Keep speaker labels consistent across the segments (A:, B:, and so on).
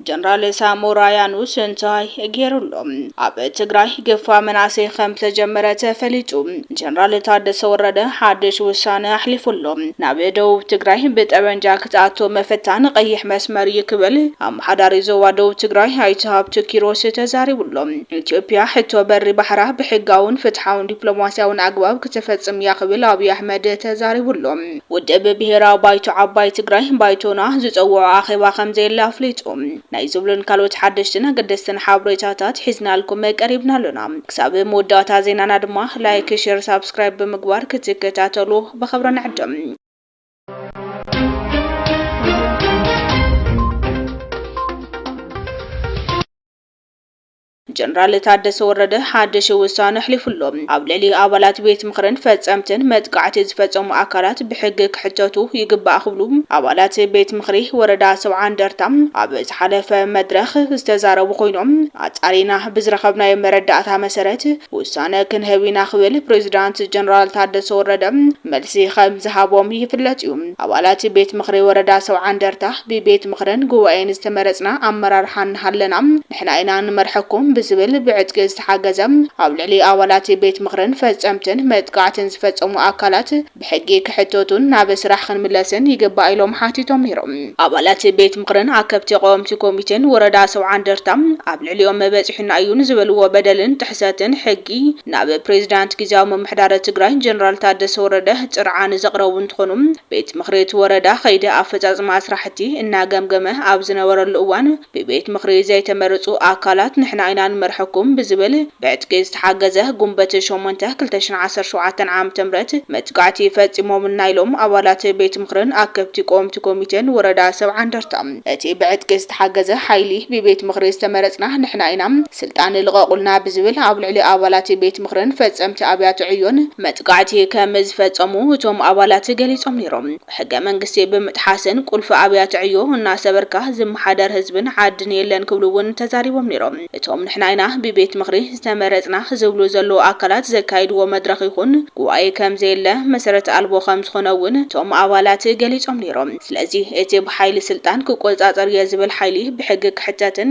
A: ጀነራል ሳሞራ ያኑስ እንታይ ገይሩሎ ኣብ ትግራይ ግፋ መናእሰይ ከም ዝተጀመረ ተፈሊጡ ጀነራል ታደሰ ወረደ ሓድሽ ውሳነ ኣሕሊፉሎ ናብ ደቡብ ትግራይ ብጠበንጃ ክትኣቶ መፈታን ቀይሕ መስመር እዩ ክብል ኣመሓዳሪ ዞባ ደቡብ ትግራይ ኣይተ ሃብቱ ኪሮስ ተዛሪቡሎ ኢትዮጵያ ሕቶ በሪ ባሕራ ብሕጋውን ፍትሓውን ዲፕሎማሲያውን ኣግባብ ክተፈፅም እያ ክብል ኣብይ ኣሕመድ ተዛሪቡ ኣሎ። ውድብ ብሄራዊ ባይቶ ዓባይ ትግራይ፣ ባይቶና፣ ዝፀወዖ ኣኼባ ከምዘየለ ኣፍሊጡ። ናይ ዝብሉን ካልኦት ሓደሽትን ኣገደስትን ሓብሬታታት ሒዝናልኩም ቀሪብና ኣሎና። ክሳብ መወዳእታ ዜናና ድማ ላይክ፣ ሼር፣ ሳብስክራይብ ብምግባር ክትከታተሉ ብኽብሪ ንዕድም። ጀነራል ታደሰ ወረደ ሓድሽ ውሳነ ኣሕሊፉ ኣሎ። ኣብ ልዕሊ ኣባላት ቤት ምኽርን ፈፀምትን መጥቃዕቲ ዝፈፀሙ ኣካላት ብሕጊ ክሕተቱ ይግባእ ክብሉ ኣባላት ቤት ምኽሪ ወረዳ ሰብዓ እንደርታ ኣብ ዝሓለፈ መድረኽ ዝተዛረቡ ኮይኖም ኣፃሪና ብዝረኸብናዮ መረዳእታ መሰረት ውሳነ ክንህብ ኢና ክብል ፕሬዚዳንት ጀነራል ታደሰ ወረደ መልሲ ከምዝሃቦም ይፍለጥ እዩ። ኣባላት ቤት ምኽሪ ወረዳ ሰብዓ እንደርታ ብቤት ምኽርን ጉባኤን ዝተመረፅና ኣመራርሓ እናሃለና ንሕና ኢና ንመርሐኩም ብዝብል ብዕጥቂ ዝተሓገዘ ኣብ ልዕሊ ኣባላት ቤት ምኽርን ፈፀምትን መጥቓዕትን ዝፈፀሙ ኣካላት ብሕጊ ክሕተቱን ናብ ስራሕ ክንምለስን ይግባእ ኢሎም ሓቲቶም ነይሮም። ኣባላት ቤት ምኽርን ኣከብቲ ቀወምቲ ኮሚቴን ወረዳ ሰውዓ እንደርታ ኣብ ልዕሊኦም በፂሑና እዩ ንዝበልዎ በደልን ጥሕሰትን ሕጊ ናብ ፕሬዚዳንት ጊዚያዊ ምምሕዳረ ትግራይ ጀነራል ታደሰ ወረደ ፅርዓ ንዘቕረቡ እንትኾኑ፣ ቤት ምኽሪ እቲ ወረዳ ኸይዲ ኣፈፃፅማ ስራሕቲ እናገምገመ ኣብ ዝነበረሉ እዋን ብቤት ምኽሪ ዘይተመረፁ ኣካላት ንሕና ኢና ንመርሐኩም ብዝብል ብዕጥቂ ዝተሓገዘ ጉንበት ሸሞንተ ክልተ ሽሕን ዓሰርተ ሸውዓተን ዓመተ ምህረት መጥቃዕቲ ፈፂሞምልና ኢሎም ኣባላት ቤት ምኽርን ኣከብቲ ቆወምቲ ኮሚቴን ወረዳ ሰብዓ እንደርታ። እቲ ብዕጥቂ ዝተሓገዘ ሓይሊ ብቤት ምኽሪ ዝተመረፅና ንሕና ኢና፣ ስልጣን ልቐቑልና ብዝብል ኣብ ልዕሊ ኣባላት ቤት ምኽርን ፈፀምቲ ኣብያተ ዕዮን መጥቃዕቲ ከም ዝፈፀሙ እቶም ኣባላት ገሊፆም ነይሮም። ሕገ መንግስቲ ብምጥሓስን ቁልፊ ኣብያተ ዕዮ እናሰበርካ ዝመሓደር ህዝብን ዓድን የለን ክብሉ እውን ተዛሪቦም ነይሮም። እቶም ንሕና ኢና ብቤት ምኽሪ ዝተመረፅና ዝብሉ ዘለዉ ኣካላት ዘካይድዎ መድረኽ ይኹን ጉባኤ ከም ዘየለ መሰረት ኣልቦ ከም ዝኾነ እውን እቶም ኣባላት ገሊፆም ነይሮም። ስለዚ እቲ ብሓይሊ ስልጣን ክቆፃፀር እየ ዝብል ሓይሊ ብሕጊ ክሕተትን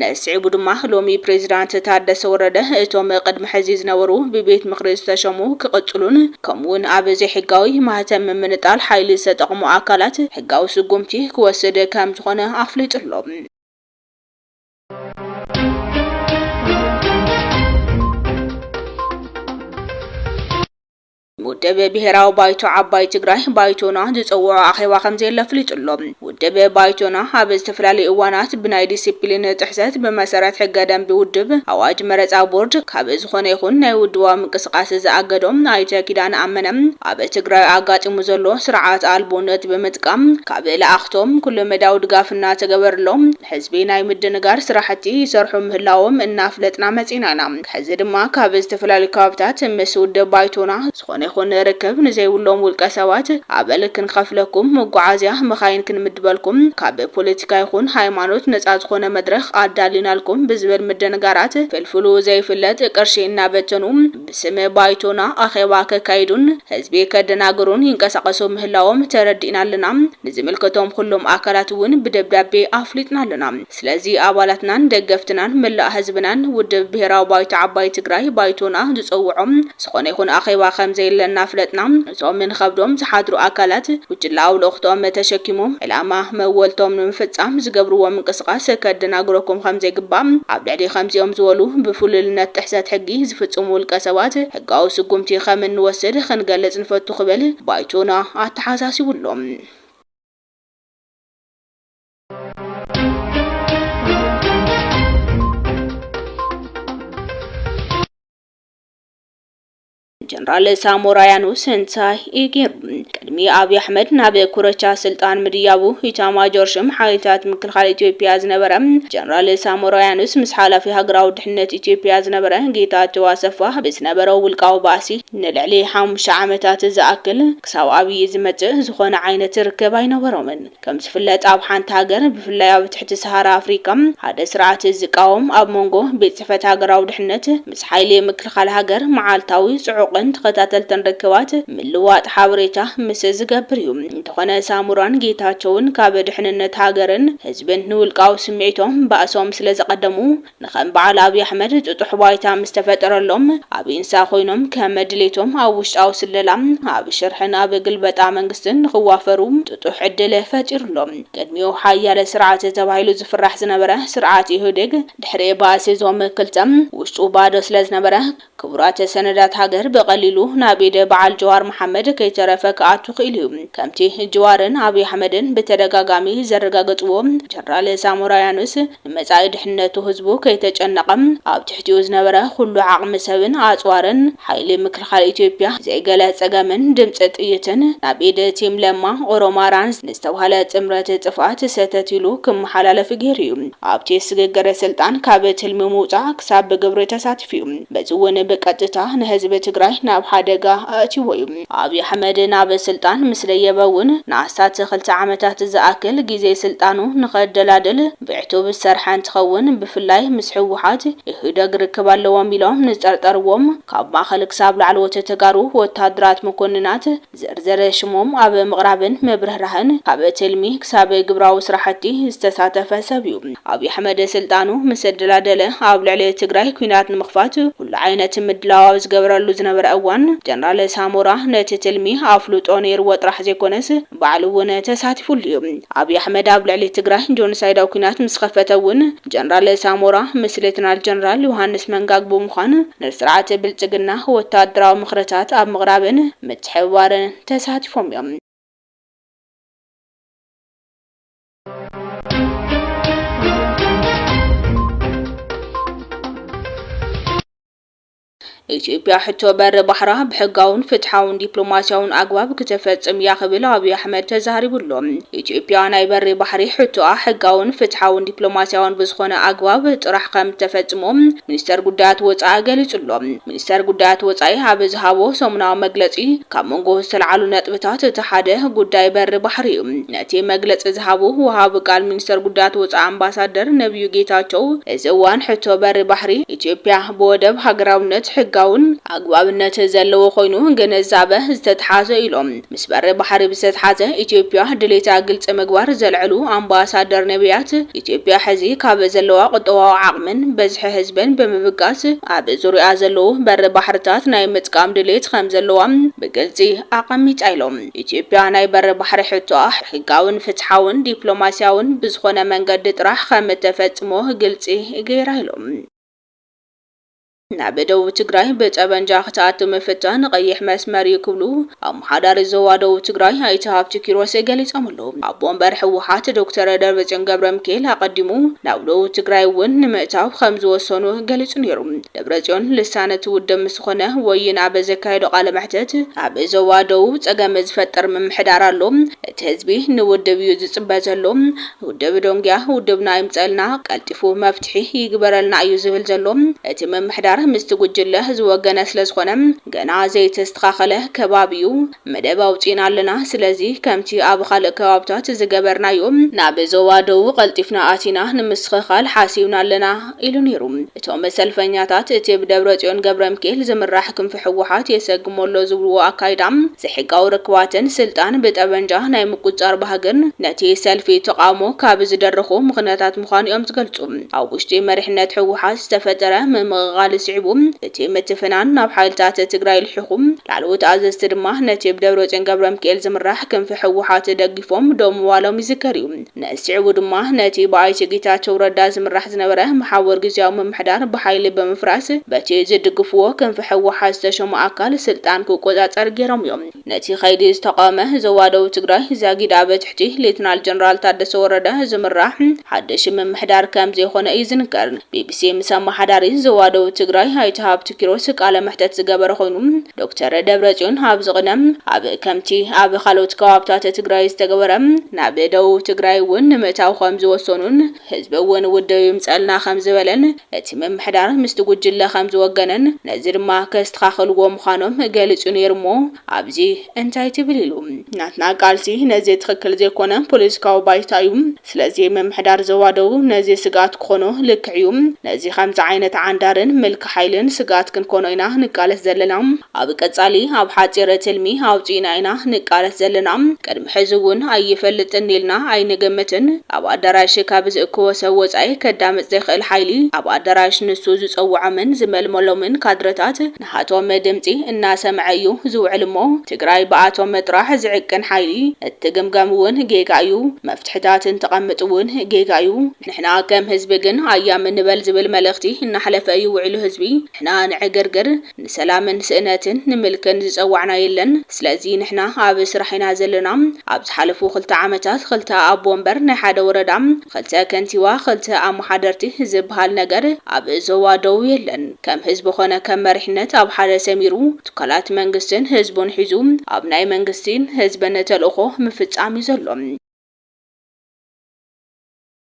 A: ንስዒቡ ድማ ሎሚ ፕሬዚዳንት ታደሰ ወረደ እቶም ቅድሚ ሕዚ ዝነበሩ ብቤት ምኽሪ ዝተሸሙ ክቕፅሉን ከምኡ ውን ኣብ ዘይሕጋዊ ማህተም ምምንጣል ሓይሊ ዝተጠቕሙ ኣካላት ሕጋዊ ስጉምቲ ክወስድ ከምዝኾነ ኣፍሊጡ ኣሎ። ውድብ ብሄራዊ ባይቶ ዓባይ ትግራይ፣ ባይቶና፣ ዝፀውዖ ኣኼባ ከምዘየለ ኣፍሊጡ'ሎ። ውድብ ባይቶና ኣብ ዝተፈላለዩ እዋናት ብናይ ዲሲፕሊን ጥሕሰት ብመሰረት ሕገ ደንቢ ውድብ፣ ኣዋጅ መረፃ ቦርድ፣ ካብ ዝኾነ ይኹን ናይ ውድባዊ ምንቅስቓስ ዝኣገዶ ኣይተ ኪዳነ ኣመነ ኣብ ትግራይ ኣጋጢሙ ዘሎ ስርዓት ኣልቦነት ብምጥቃም ካብ ልኣኽቶም ኩለመዳያዊ ድጋፍ እናተገበርሎም ንህዝቢ ናይ ምድንጋር ስራሕቲ ይሰርሑ ምህላዎም እናፍለጥና መፂእና ኢና። ሕዚ ድማ ካብ ዝተፈላለዩ ከባቢታት ምስ ውድብ ባይቶና ዝኾነ ይኹን ርክብ ንዘይብሎም ውልቀ ሰባት ኣበል ክንኸፍለኩም፣ መጓዓዝያ መኻይን ክንምድበልኩም፣ ካብ ፖለቲካ ይኹን ሃይማኖት ነፃ ዝኾነ መድረኽ ኣዳሊናልኩም ብዝብል ምድንጋራት ፍልፍሉ ዘይፍለጥ ቅርሺ እናበተኑ ብስም ባይቶና ኣኼባ ከካይዱን ህዝቢ ከደናግሩን ይንቀሳቐሱ ምህላዎም ተረዲእና ኣለና። ንዝምልከቶም ኹሎም ኣካላት እውን ብደብዳቤ ኣፍሊጥና ኣለና። ስለዚ ኣባላትናን ደገፍትናን መላእ ህዝብናን ውድብ ብሄራዊ ባይቶ ዓባይ ትግራይ፣ ባይቶና፣ ዝፀውዖ ዝኾነ ይኹን ኣኼባ ከምዘየለ እናፍለጥና እዞም ንኸብዶም ዝሓድሩ ኣካላት ጉጅለኣዊ ልእኽቶኦም ተሸኪሞም ዕላማ መወልቶም ንምፍፃም ዝገብርዎ ምንቅስቓስ ከደናግረኩም ከምዘይግባእ ኣብ ልዕሊ ከምዚኦም ዝበሉ ብፍሉልነት ጥሕሰት ሕጊ ዝፍፅሙ ውልቀ ሰባት ሕጋዊ ስጉምቲ ከምንወስድ ክንገልፅ ንፈቱ ክብል ባይቶና ኣተሓሳሲቡ ኣሎ። ጀነራል ሳሞራ ያኑስ ህንሳይ ኢጌሩ ቅድሚ ኣብዪ ኣሕመድ ናብ ኩረቻ ስልጣን ምድያቡ ኢታማጆር ሽም ሓይልታት ምክልኻል ኢትዮጵያ ዝነበረ ጀነራል ሳሞራ ያኑስ ምስ ሓላፊ ሃገራዊ ድሕነት ኢትዮጵያ ዝነበረ ጌታቸው ኣሰፋ ብዝነበረው ውልቃዊ ባእሲ ንልዕሊ ሓሙሽተ ዓመታት ዝኣክል ክሳብ ኣብዪ ዝመጽእ ዝኾነ ዓይነት ርክብ ኣይነበሮምን። ከም ዝፍለጥ ኣብ ሓንቲ ሃገር ብፍላይ ኣብ ትሕቲ ሰሃራ ኣፍሪቃ ሓደ ስርዓት ዝቃወም ኣብ ሞንጎ ቤት ጽሕፈት ሃገራዊ ድሕነት ምስ ሓይሊ ምክልኻል ሃገር መዓልታዊ ጽዑቕን ተኸታተልትን ርክባት ምልውዋጥ ሓበሬታ ምስ ዝገብር እዩ። እንተኾነ ሳሞራን ጌታቸውን ካብ ድሕንነት ሃገርን ህዝብን ንውልቃዊ ስምዒቶም ባእሶም ስለ ዘቐደሙ ንከም በዓል ኣብይ ኣሕመድ ጥጡሕ ባይታ ምስ ተፈጠረሎም ኣብ ኢንሳ ኮይኖም ከም ድሌቶም ኣብ ውሽጣዊ ስለላ፣ ኣብ ሽርሕን ኣብ ግልበጣ መንግስትን ንክዋፈሩ ጥጡሕ ዕድል ፈጢሩሎም። ቅድሚኡ ሓያል ስርዓት ተባሂሉ ዝፍራሕ ዝነበረ ስርዓት ኢህወዴግ ድሕሪ ባእሲ እዞም ክልተ ውሽጡ ባዶ ስለዝነበረ ክቡራት ሰነዳት ሃገር ብቐሊሉ ናብ ኢድ በዓል ጀዋር መሓመድ ከይተረፈ ክኣቱ ክኢሉ እዩ። ከምቲ ጅዋርን ኣብይ ኣሕመድን ብተደጋጋሚ ዘረጋገፅዎ ጀነራል ሳሞራ ያኑስ ንመፃኢ ድሕንነቱ ህዝቡ ከይተጨነቐ ኣብ ትሕቲኡ ዝነበረ ኹሉ ዓቕሚ ሰብን ኣፅዋርን ሓይሊ ምክልኻል ኢትዮጵያ ዘይገለ ፀገምን ድምፂ ጥይትን ናብ ኢድ ቲም ለማ ኦሮማራን ንዝተብሃለ ጥምረት ጥፍኣት ሰተት ኢሉ ክመሓላለፍ ገይሩ እዩ። ኣብቲ ስግግር ስልጣን ካብ ትልሚ ምውፃእ ክሳብ ብግብሪ ተሳቲፉ። እዩ። በዚ እውን ብቀጥታ ንህዝቢ ትግራይ ናብ ሓደጋ ኣእትዩዎ እዩ። ኣብይ ኣሕመድ ናብ ስልጣን ምስ ደየበ እውን ንኣስታት ክልተ ዓመታት ዝኣክል ግዜ ስልጣኑ ንኸደላድል ብዕቱብ ዝሰርሐ እንትኸውን ብፍላይ ምስ ህወሓት፣ ኢህደግ ርክብ ኣለዎም ኢሎም ንዝጠርጠርዎም ካብ ማእኸል ክሳብ ላዕለዎት ተጋሩ ወታደራት መኮንናት ዝርዝር ሽሞም ኣብ ምቕራብን ምብርህራህን ካብ ትልሚ ክሳብ ግብራዊ ስራሕቲ ዝተሳተፈ ሰብ ዩ። ኣብይ ኣሕመድ ስልጣኑ ምስ ኣደላደለ ኣብ ልዕሊ ትግራይ ኲናት ንምኽፋት ኩሉ ዓይነት ምድላው ኣብ ዝገበረሉ ዝነበረ እዋን ጀነራል ሳሞራ ነቲ ትልሚ ኣፍልጦ ነይርዎ ጥራሕ ዘይኮነስ ባዕሉ ውን ተሳቲፉሉ ዩ። ኣብይ ኣሕመድ ኣብ ልዕሊ ትግራይ ጆኖሳይዳዊ ኲናት ምስ ኸፈተ ውን ጀነራል ሳሞራ ምስ ሌተናል ጀነራል ዮሃንስ መንጋግ ብምዃን ንስርዓት ብልፅግና ወታደራዊ ምኽርታት ኣብ ምቕራብን ምትሕብባርን ተሳቲፎም እዮም። ኢትዮጵያ ሕቶ በሪ ባሕራ ብሕጋውን ፍትሓውን ዲፕሎማሲያውን ኣግባብ ክተፈፅም እያ ክብል ኣብዪ ኣሕመድ ተዛሪቡ ኣሎ። ኢትዮጵያ ናይ በሪ ባሕሪ ሕቶኣ ሕጋውን ፍትሓውን ዲፕሎማሲያውን ብዝኾነ ኣግባብ ጥራሕ ከም እተፈፅሞ ሚኒስተር ጉዳያት ወጻኢ ገሊጹ'ሎ። ሚኒስተር ጉዳያት ወጻኢ ኣብ ዝሃቦ ሰሙናዊ መግለጺ፣ ካብ መንጎ ዝተልዓሉ ነጥብታት እቲ ሓደ ጉዳይ በሪ ባሕሪ'ዩ። ነቲ መግለጺ ዝሃቡ ወሃቢ ቃል ሚኒስተር ጉዳያት ወጻኢ ኣምባሳደር ነብዩ ጌታቸው፣ እዚ እዋን ሕቶ በሪ ባሕሪ ኢትዮጵያ ብወደብ ሃገራውነት ሕጋውን ኣግባብነት ዘለዎ ኮይኑ ግንዛበ ዝተትሓዞ'ዩ ኢሎም። ምስ በሪ ባሕሪ ብዘተሓዘ ኢትዮጵያ ድሌታ ግልፂ ምግባር ዘልዐሉ ኣምባሳደር ነብያት፣ ኢትዮጵያ ሕዚ ካብ ዘለዋ ቁጠባዊ ዓቕምን በዝሒ ህዝብን ብምብጋስ ኣብ ዙርይኣ ዘለዉ በሪ ባሕርታት ናይ ምጥቃም ድሌት ከምዘለዋ ብግልፂ ኣቐሚጣ ኢሎም። ኢትዮጵያ ናይ በሪ ባሕሪ ሕቶኣ ሕጋዊን ፍትሓዊን ዲፕሎማሲያዊን ብዝኾነ መንገዲ ጥራሕ ከምተፈፅሞ ግልፂ ገይራ ኢሎም። ናብ ደቡብ ትግራይ ብጠበንጃ ክትኣቱ ምፍታን ቐይሕ መስመር ዩ ክብሉ ኣመሓዳሪ ዞባ ደቡብ ትግራይ ኣይተ ሃብቲ ኪሮስ ገሊፆም ኣለው። ኣቦ ወንበር ህወሓት ዶክተር ደብረፅዮን ገብረሚካኤል ኣቐዲሙ ናብ ደቡብ ትግራይ ውን ንምእታው ከምዝወሰኑ ገሊፁ ነይሩ። ደብረፅዮን ልሳን እቲ ውድብ ምስ ዝኾነ ወይን ኣብ ዘካየዶ ቃለ መሕተት ኣብ ዞባ ደቡብ ፀገም ዝፈጥር ምምሕዳር ኣሎ፣ እቲ ህዝቢ ንውድብ ዩ ዝፅበ ዘሎ፣ ውድብ ዶንግያ ውድብና ይምፀልና፣ ቀልጢፉ መፍትሒ ይግበረልና እዩ ዝብል ዘሎ። እቲ ምምሕዳር ምስቲ ጉጅለ ዝወገነ ስለዝኾነ ገና ዘይተስተኻኸለ ከባቢ እዩ። መደብ ኣውፂእና ኣለና፣ ስለዚ ከምቲ ኣብ ኻልእ ከባብታት ዝገበርናዮ፣ ናብ ዞባ ደቡብ ቐልጢፍና ኣቲና ንምስትኽኻል ሓሲብና ኣለና ኢሉ ነይሩ። እቶም ሰልፈኛታት እቲ ብደብረፅዮን ገብረምኪኤል ዝምራሕ ክንፊ ህወሓት የሰግሞ ኣሎ ዝብልዎ ኣካይዳ ዘይሕጋዊ ርክባትን ስልጣን ብጠበንጃ ናይ ምቁፅፃር ባህግን ነቲ ሰልፊ ተቓውሞ ካብ ዝደረኹ ምኽንያታት ምዃኑ እዮም ዝገልፁ። ኣብ ውሽጢ መሪሕነት ህወሓት ዝተፈጠረ ምምቕቓል ስዒቡ እቲ ምትፍናን ናብ ሓይልታት ትግራይ ልሒኹ፣ ላዕለዎት ኣዘዝቲ ድማ ነቲ ብደብረፅዮን ገብረምኪኤል ዝምራሕ ክንፊ ህወሓት ደጊፎም ደው ምባሎም ይዝከር እዩ። ነዚ ስዒቡ ድማ ነቲ ብኣይተ ጌታቸው ረዳ ዝምራሕ ዝነበረ መሓውር ግዚያዊ ምምሕዳር ብሓይሊ ብምፍራስ በቲ ዝድግፍዎ ክንፊ ህወሓት ዝተሸሙ ኣካል ስልጣን ክቆፃፀር ገይሮም እዮም። ነቲ ከይዲ ዝተቓወመ ዞባ ደቡብ ትግራይ ዛጊድ ኣብ ትሕቲ ሌተናል ጀነራል ታደሰ ወረደ ዝምራሕ ሓድሽ ምምሕዳር ከምዘይኾነ እዩ ዝንገር። ቢቢሲ ምስ ኣመሓዳሪ ዞባ ደቡብ ትግራይ ኣይተ ሃብቱ ኪሮስ ቃለ መሕተት ዝገበረ ኾይኑ፣ ዶክተር ደብረፅዮን ኣብዚ ቅደም ኣብ ከምቲ ኣብ ካልኦት ከባብታት ትግራይ ዝተገበረ ናብ ደቡብ ትግራይ እውን ንምእታው ከምዝወሰኑን ህዝቢ እውን ውድብ ይምፀልና ከምዝበለን እቲ ምምሕዳር ምስቲ ጉጅለ ከምዝወገነን ነዚ ድማ ከስተኻኽልዎ ምዃኖም ገሊፁ ነይሩ እሞ ኣብዚ እንታይ ትብል ኢሉ። ናትና ቃልሲ ነዚ ትኽክል ዘይኮነ ፖለቲካዊ ባይታ እዩ። ስለዚ ምምሕዳር ዞባ ደቡብ ነዚ ስግኣት ክኾኖ ልክዕ እዩ። ነዚ ከምዚ ዓይነት ዓንዳርን ምልኪ ሓይልን ስግኣት ክንኮኖ ኢና ንቃለስ ዘለና። ኣብ ቀጻሊ ኣብ ሓጺር ትልሚ ኣውጺእና ኢና ንቃለስ ዘለና። ቅድሚ ሕዚ እውን ኣይፈልጥን ኢልና ኣይንግምትን። ኣብ ኣዳራሽ ካብ ዝእክቦ ሰብ ወጻኢ ከዳምጽ ዘይክእል ሓይሊ፣ ኣብ ኣዳራሽ ንሱ ዝጸውዖምን ዝመልመሎምን ካድረታት፣ ንሃቶም ድምፂ እናሰምዐ እዩ ዝውዕል እሞ ትግራይ ብኣቶም ጥራሕ ዝዕቅን ሓይሊ እትግምገም እውን ጌጋ እዩ። መፍትሕታት እንተቐምጥ እውን ጌጋ እዩ። ንሕና ከም ህዝቢ ግን ኣያም ንበል ዝብል መልእኽቲ እናሕለፈ እዩ ውዒሉ ህዝቢ ንሕና ንዕግርግር፣ ንሰላምን ስእነትን፣ ንምልክን ዝፀዋዕና የለን። ስለዚ ንሕና ኣብ ስራሕ ኢና ዘለና። ኣብ ዝሓለፉ ክልተ ዓመታት ክልተ ኣቦ ወንበር ናይ ሓደ ወረዳ፣ ክልተ ከንቲባ፣ ክልተ ኣመሓደርቲ ዝበሃል ነገር ኣብ ዞባ ደቡብ የለን። ከም ህዝቢ ኮነ ከም መሪሕነት ኣብ ሓደ ሰሚሩ ትካላት መንግስትን ህዝቡን ሒዙ ኣብ ናይ መንግስቲን ህዝብን ተልእኾ ምፍፃም ዩ ዘሎ።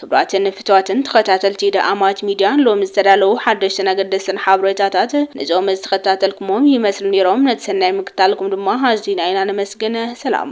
A: ክብራትን ፍትዋትን ተኸታተልቲ ደኣማት ሚድያ ሎሚ ዝተዳለዉ ሓደሽትን ኣገደስትን ሓበሬታታት ንዞም ዝተኸታተልኩሞም ይመስሉ ነይሮም ነቲ ሰናይ ምክታልኩም ድማ ኣዚና ኢና ነመስግን ሰላም